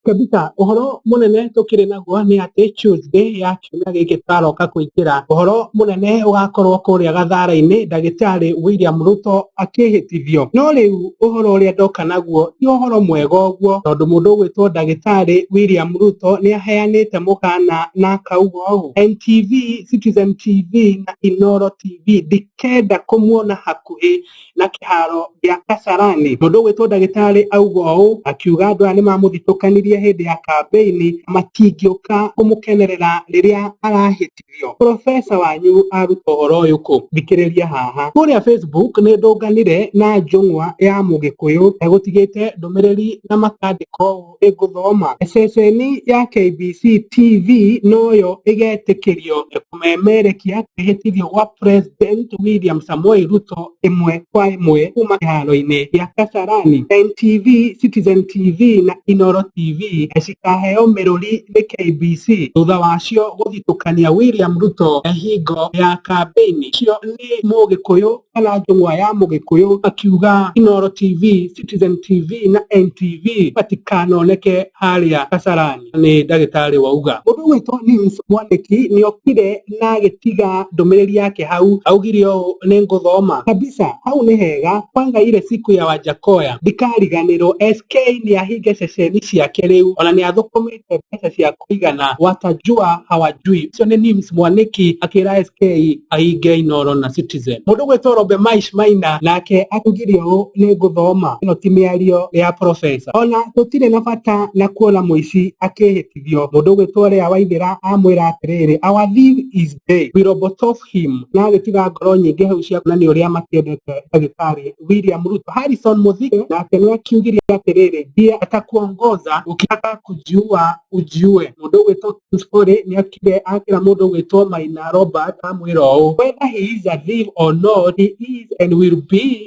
Tabitha, ũhoro mũnene tũkĩrĩ naguo nĩ atĩ Tuesday ya kiumia gĩkĩ tũkaroka kũingĩra. Ũhoro mũnene ũgakorwo kũrĩa gathaara-inĩ ndagĩtarĩ William Ruto akĩhĩtithio. No rĩu ũhoro ũrĩa ndoka naguo ti ũhoro mwega ũguo tondũ mũndũ ũgwĩtwo ndagĩtarĩ William Ruto nĩ aheanĩte mũkaana na akauga ũũ, NTV, Citizen TV na Inooro TV ndikenda kũmuona hakuhĩ. na kĩharo gĩa Kasarani. Mũndũ ũgwĩtwo ndagĩtarĩ auga ũũ akiuga andũ aya nĩmamũthitũkanirie hĩndĩ ya kambĩini matingĩũka kũmũkenerera rĩrĩa arahĩtithio. Profesa wanyu aruta ũhoro ũyũ kũ? Thikĩrĩria haha. Kũrĩa Facebook nĩndũnganire na njũng'wa ya mũgĩkũyũ egũtigĩte ndũmĩrĩri na makandĩka ũũ. ĩgũthoma. Ceceni ya KBC TV noyo ĩgetĩkĩrio kũmemerekia kwĩhĩtithio gwa President William Samoei Ruto ĩmwe kwa ĩmwe kuma kĩharo-inĩ gĩa Kasarani. NTV, Citizen TV na Inoro TV cikaheo mĩrũri nĩ KBC thutha wacio gũthitũkania William Ruto hingo ya kambĩini. Ũcio nĩ Mũgĩkũyũ kana njũng'wa ya mũgĩkũyũ akiuga Inooro TV, Citizen TV na NTV matikanoneke harĩa Kasarani. Nĩ ndagĩtarĩ wauga. Mũndũ ũgwĩtwo Nims Mwanĩki nĩokire na agĩtiga ndũmĩrĩri yake hau, augire ũũ nĩ ngũthoma kabisa, hau nĩ hega kwanza ile siku ya Wajakoya ndikariganĩrwo, SK nĩahinge ceceni ciake rĩu ona nĩathũkũmĩte icio mbeca cia kũigana watajua hawajui icio nĩ Nims Mwaniki akĩra SK ahinge Inoro na Citizen mũndũ gwĩtwo Robe Maish Maina nake akugire ũũ nĩ ngũthoma ĩno ti mĩario ya profesa ona gũtirĩ na bata na kuona mũici akĩhĩtithio mũndũ gwĩtwo Lea Waithĩra amwĩra atĩrĩrĩ our thief is day we robotof Kim nĩ agĩtiga ngoro nyingĩ hau cia kuonania ũrĩa makĩendete ndagĩtarĩ William Ruto. Harrison Mũthige nake nĩ akiugire atĩrĩrĩ, ndiye atakuongoza ukitaka kujua ujue. Mũndũ ũgwĩtwo Kim Story nĩ akire akĩra mũndũ ũgwĩtwo Maina Robert amwĩra ũũ, whether he is alive or not he is and will be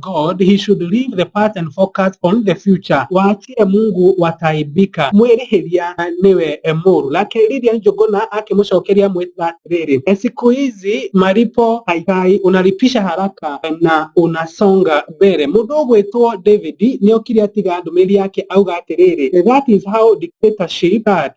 God he should leave the past and focus on the future watie mungu wataibika mwĩrĩhĩria na nĩwe mũru nake lilia njũngũna akĩmũcokeria mwĩta atĩrĩrĩ siku hizi malipo haikai unalipisha haraka na unasonga mbere mũndũ ũgwĩtwo david nĩokire atiga ndũmĩrĩri yake auga atĩrĩrĩ that is how dictatorship starts.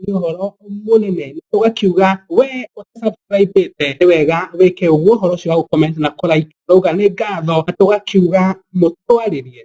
nĩ ũhoro mũnene ũgakiuga we ũtasubscribĩte nĩ wega wĩke ũguo ũhoro ũcio wa gũ comment na kũ like twauga nĩ ngatho na tũgakiuga mũtwarĩrie.